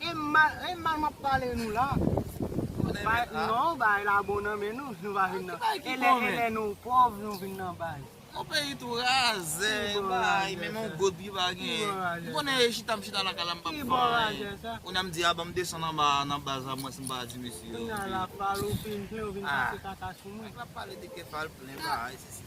E mal e mal map pale nou la. Non bay la bon nan men nou, nou pa vin nan. E lè e lè nou pòv nou vin nan bay. Yon peyi tou razè bay menm yon god pi pa gen. M konnen e chita m chita lakay la m pap fè anyen. Kounye a m di a banm desann anba a nan baz la mwen si m pa di mesye yo. Kounye a lap pale ou fin plen ou vin pase kaka sou mwen. Lap pale de kè pal plen bay.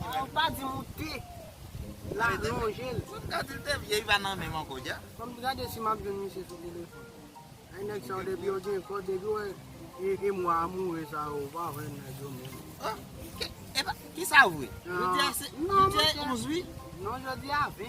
Fòk pa di moute la lonje l. Fòk m ta di l te vye li pa nan menm ankò dja. Fòk m gade si m ap jwenn misye sou telefòn. Ay nèg sa yo depi yo gen kò depi yo wè e mwa amoure sa yo ou pa wè nèg yo menm. Oh epa kisa vre. Jodi a se 11 wi. Non jodi a 20.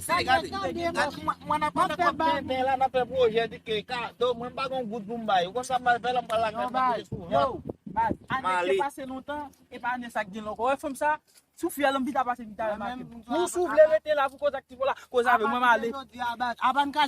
Sa mwen tande la. Mwen nan pale kòb tenten la nan fè pwojè di ke kado mwen pa gon goud pou m bay ou konn sa m pral fè la m pral lakay mwen toujou souvan. Yo baz ane se pase lontan epa ane sa k genyen ankò wè fanm sa sou fyèl m pita pase pita remake m. Ou sou vle rete la pou koz ak ti pola koz avè mwen male.